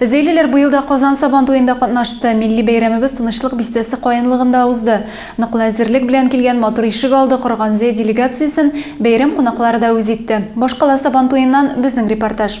Зөйлеләр быел да Казан Сабан туенда катнашты. Милли бәйрәмебез Тынычлык бистәсе каенлыгында узды. Ныклы әзерлек белән килгән матур ишек алды корган Зөй делегациясен бәйрәм кунаклары да үз итте. Башкала Сабан туеннан безнең репортаж.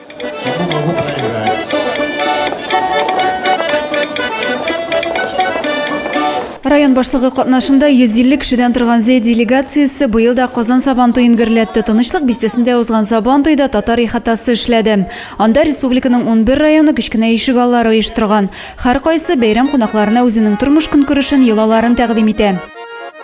Район башлыгы катнашында 150 кешедән торган Зәй делегациясе быел да Казан Сабантуен гөрләтте. Тынычлык бистәсендә узган Сабантуйда татар ихатасы эшләде. Анда республиканың 11 районы кечкенә ишек аллары оештырган. Һәркайсы бәйрәм кунакларына үзенең тормыш-көнкүрешен, йолаларын тәкъдим итә.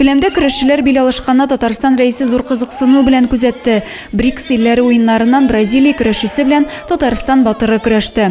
Келәмдә көрәшчеләр бил алышканны Татарстан Рәисе зур кызыксыну белән күзәтте. БРИКС илләре уеннарыннан Бразилия көрәшчесе белән Татарстан батыры көрәште.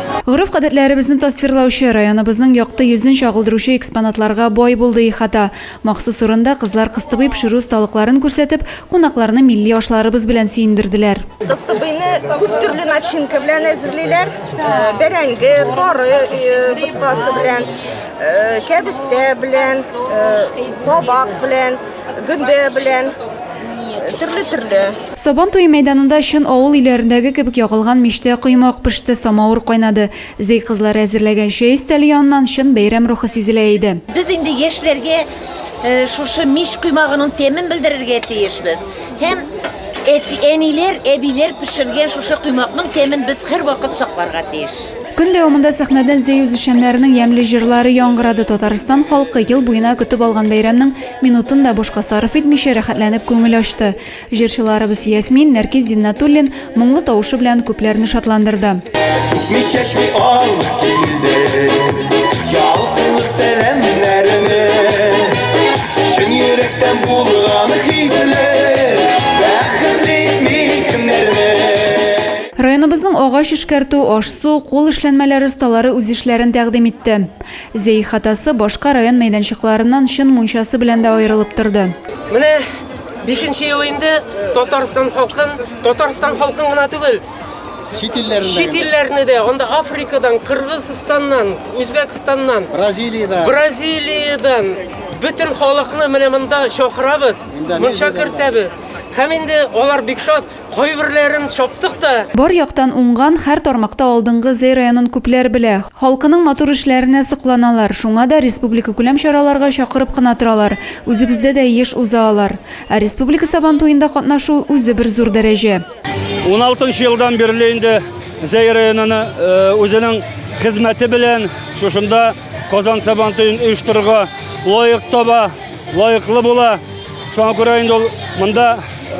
Гореф-гадәтләребезне тасвирлаучы, районыбызның якты йөзен чагылдыручы экспонатларга бай булды ихата. Махсус урында кызлар кыстыбый пешерү осталыкларын күрсәтеп, кунакларны милли ашларыбыз белән сөендерделәр. Кыстыбыйны күп төрле начинка белән әзерлиләр. Бәрәңге, тары боткасы белән, кәбестә белән, кабак белән. Гөмбә белән төрле-төрле. Сабан туе мәйданында чын авыл өйләрендәге кебек ягылган мичтә коймак пеште, самавыр кайнады. Зәй кызлары әзерләгән чәй өстәле яныннан чын бәйрәм рухы сизелә иде. Без инде яшьләргә шушы мич коймагының тәмен белдерергә тиешбез. Һәм әниләр, әбиләр пешергән шушы коймакның тәмен без һәрвакыт сакларга тиеш. Көн дәвамында сәхнәдән Зәй үзешчәннәренең ямьле җырлары яңгырады. Татарстан халкы ел буена көтеп алган бәйрәмнең Минутын да бушка сарыф итмичә, рәхәтләнеп күңел ачты. Җырчыларыбыз Ясмин, Нәркиз Зиннатуллин моңлы тавышы белән күпләрне шатландырды. Күкми чәчми алып килде, ялкынлы сәламнәрне. Чын йөрәктән булган хисле, бәхетле итми кемнәрне. Районыбызның агач эшкәртү, аш-су, кул эшләнмәләре осталары үз эшләрен тәкъдим итте. Зәй хатасы башка район мәйданчыкларыннан чын мунчасы белән дә аерылып торды. Менә бишенче ел инде Татарстан халкын, Татарстан халкын гына түгел, Чит илләрендә. чит илләрне дә, анда Африкадан, Кыргызстаннан, Үзбәкстаннан, Бразилиядә. Бразилиядән бөтен халыкны менә монда чакырабыз, Индонезиядән монча да. кертәбез. Һәм инде алар бик шат. Кайберләрен чаптык та. Бар яктан уңган, һәр тармакта алдынгы Зәй районын күпләр белә. Халкының матур эшләренә сокланалар. Шуңа да республикакүләм чараларга чакырып кына торалар. Үзебездә дә еш уза алар. Ә республика Сабантуенда катнашу, үзе бер зур дәрәҗә. Уналты нчы елдан бирле инде Зәй районын үзенең хезмәте белән шушында. Казан Сабантуен оештырырга лаек таба, лаеклы була. Шуңа күрә инде ул монда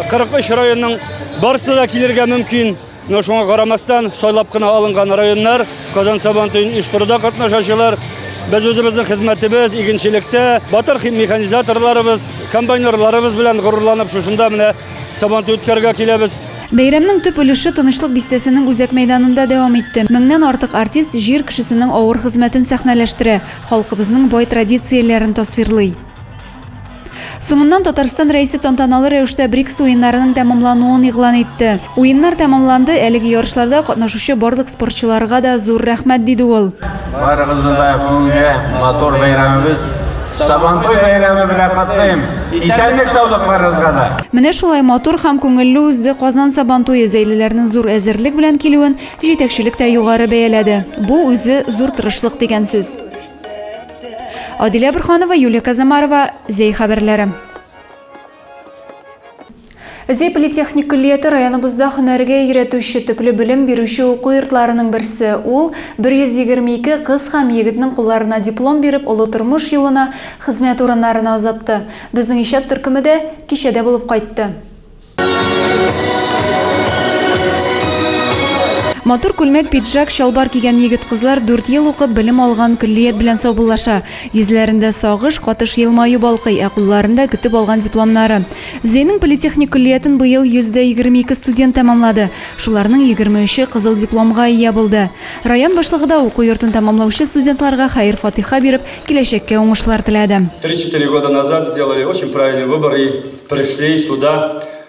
43 районның барысы да килергә мөмкин. Но шуңа карамастан сайлап кына алынган районнар Казан Сабантуен оештыруда катнашачылар. Без үзебезнең хезмәтебез, игенчелектә, батыр механизаторларыбыз, комбайнерларыбыз белән горурланып шушында менә Сабан түткәргә киләбез. Бәйрәмнең төп өлеше Тынычлык бистәсенең үзәк мәйданында дәвам итте. Меңнән артык артист җир кешесенең авыр хезмәтен сәхнәләштерә, халкыбызның бай традицияләрен тасвирлый. Соңыннан Татарстан Рәисе тантаналы рәвештә БРИКС уеннарының тәмамлануын игълан итте. Уеннар тәмамланды, әлеге ярышларда катнашучы барлык спортчыларга да зур рәхмәт, диде ул. Барыгызны да бүгенге матур бәйрәмебез Сабантуй бәйрәме белән котлыйм. Исәнлек саулык барыгызга да. Менә шулай матур һәм күңелле узды Казан Сабантуе зәйлеләрнең зур әзерлек белән килүен җитәкчелек тә югары бәяләде. Бу үзе зур тырышлык дигән сүз. Адилә Бурханова, Юлия Казамарова, Зәй хәбәрләре. Зей политехник көллияте районыбызда һөнәргә өйрәтүче төпле белем бирүче уку йортларының берсе. Ул 122 кыз һәм егетнең кулларына диплом биреп, олы тормыш юлына, хезмәт урыннарына озатты. Безнең иҗат төркеме дә кичәдә булып кайтты. Матур күлмәк, пиджак, чалбар кигән егет-кызлар дүрт ел укып, белем алган көллият белән саубуллаша. Йөзләрендә сагыш, катыш елмаю балкый, ә кулларында, көтеп алган дипломнары. Зөянең политехник көллиятен быел 122 студент тәмамлады. Шуларның 23-е кызыл дипломга ия булды. Район башлыгы да уку йортын тәмамлаучы студентларга хәер-фатыйха биреп, киләчәккә уңышлар теләде. Три-четыре года назад сделали очень правильный выбор и пришли сюда.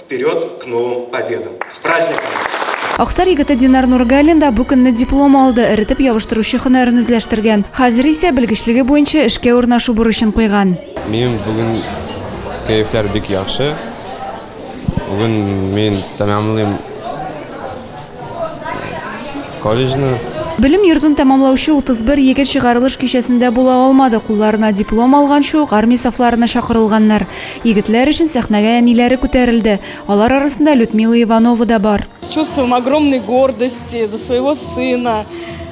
Вперед к новым победам! С праздником! Аксар егете Динар Нургалин да бу көнне диплом алды, эретеп ябыштыручы һөнәрен үзләштергән. Хәзер исә белгечлеге буенча эшкә урнашу бурычын куйган. Минем бүген кәефләр бик яхшы. Бүген мин тәмамлыйм Колледжны Белем йортын тәмамлаучы 31 егет чыгарылыш кичәсендә була алмады, кулларына диплом алганчы ук армия сафларына чакырылганнар. Егетләр өчен сәхнәгә әниләре күтәрелде. Алар арасында Людмила Иванова да бар. С чувством огромной гордости за своего сына,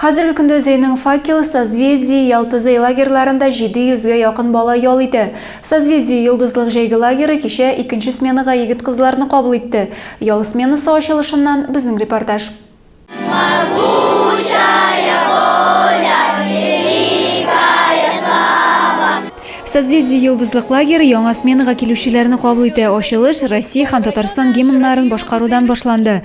Хәзерге көндә Зейның Факел, Созвездие, Ялтызый лагерьларында 700 гә якын бала ял итә. Созвездие Йолдызлык җәйге лагеры кичә икенче сменага егет-кызларны кабул итте. Ял сменасы ачылышыннан безнең репортаж. Созвездие Йолдызлык лагеры яңа сменага килүчеләрне кабул итә. Ачылыш Россия һәм Татарстан гимннарын башкарудан башланды.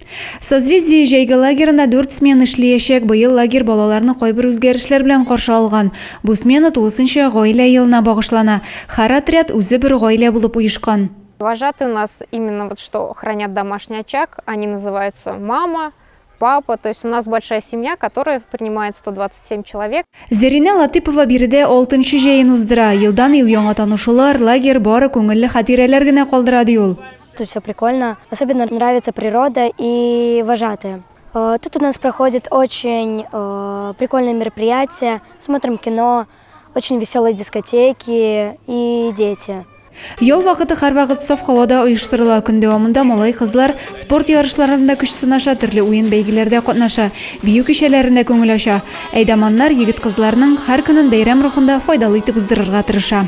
Созвездие җәйге лагерында дүрт смена эшлиячәк. Быел лагерь балаларны кайбер үзгәрешләр белән каршы алган. Бу смена тулысынча гаилә елына багышлана. Һәр отряд үзе бер гаилә булып оешкан. Вожатые у нас именно вот что хранят домашний очаг, они называются мама, папа, то есть у нас большая семья, которая принимает 127 человек. Зәринә Латыпова биредә алтынчы җәен уздыра. Елдан-ел яңа танышулар, лагерь бары күңелле хатирәләр генә калдыра, ди ул. Тут все прикольно. Особенно нравится природа и вожатые. Э, тут у нас проходит очень э, прикольные мероприятия. Смотрим кино, очень веселые дискотеки и дети. Ел вакыты һәрвакыт саф һавада оештырыла. Көн дәвамында малай кызлар спорт ярышларында көч сынаша, төрле уен бәйгеләрдә катнаша, бию кичәләрендә күңел ача. Әйдаманнар егет-кызларның һәр көнен бәйрәм рухында файдалы итеп уздырырга тырыша.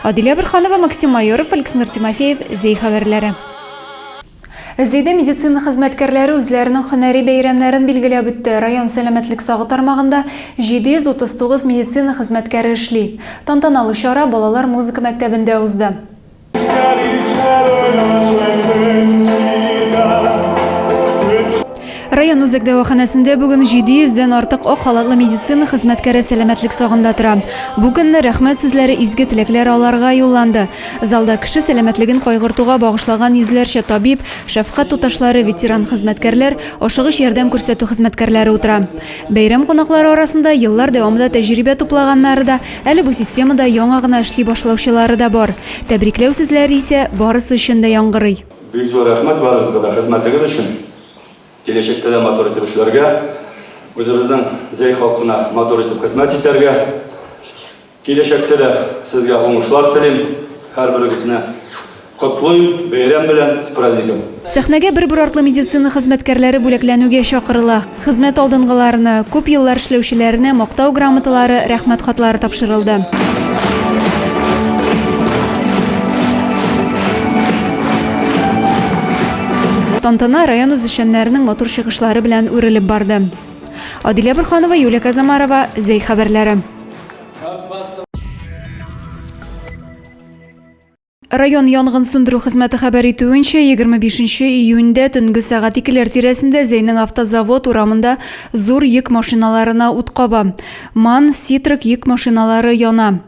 Адилә Бөрханова, Максим Майоров, Александр Тимофеев, Зәй хәбәрләре. Зәйдә медицина хезмәткәрләре үзләренең һөнәри бәйрәмнәрен билгеләп үтте. Район сәламәтлек сагы тармагында 739 медицина хезмәткәре эшли. Тантаналы чара балалар музыка мәктәбендә узды. Район үзәк дәваханәсендә бүген 700 дән артык ак халатлы медицина хезмәткәре сәламәтлек сагында тора. Бу көнне рәхмәт сүзләре, изге теләкләр аларга юлланды. Залда кеше сәламәтлеген кайгыртуга багышлаган йөзләрчә табиб, шәфкать туташлары, ветеран хезмәткәрләр, ашыгыч ярдәм күрсәтү хезмәткәрләре утыра. Бәйрәм кунаклары арасында еллар дәвамында тәҗрибә туплаганнары да, әле бу системада яңа гына эшли башлаучылары да бар. Тәбрикләү сүзләре исә барысы өчен дә яңгырый. Бик зур рәхмәт барыгызга да хезмәтегез өчен! Киләчәктә дә матур итеп эшләргә, үзебезнең Зәй халкына матур итеп хезмәт итәргә. Киләчәктә дә сезгә уңышлар телим. Һәрберегезне котлыйм бәйрәм белән, с праздником! Сәхнәгә бер-бер артлы медицина хезмәткәрләре бүләкләнүгә чакырыла. Хезмәт алдынгыларына, күп еллар эшләүчеләренә Мактау грамоталары, Рәхмәт хатлары тапшырылды. Тантана район үзешчәннәренең матур чыгышлары белән үрелеп барды. Адилә Борханова, Юлия Казамарова, Зәй хәбәрләре. Район янгын сүндерү хезмәте хәбәр итүенчә, 25 июньдә төнге сәгать икеләр тирәсендә Зәйнең автозавод урамында зур йөк машиналарына ут каба. МАН, Ситрак йөк машиналары яна.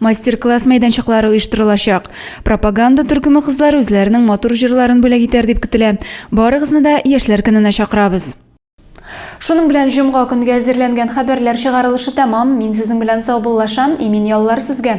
Мастер-класс мәйданчыклары оештырылачак. Пропаганда төркеме кызлары үзләренең матур җырларын бүләк итәр дип көтелә. Барыгызны да яшьләр көненә чакырабыз. Шуның белән җомга көнгә әзерләнгән хәбәрләр чыгарылышы тәмам. Мин сезнең белән саубуллашам. Имин яллар сезгә!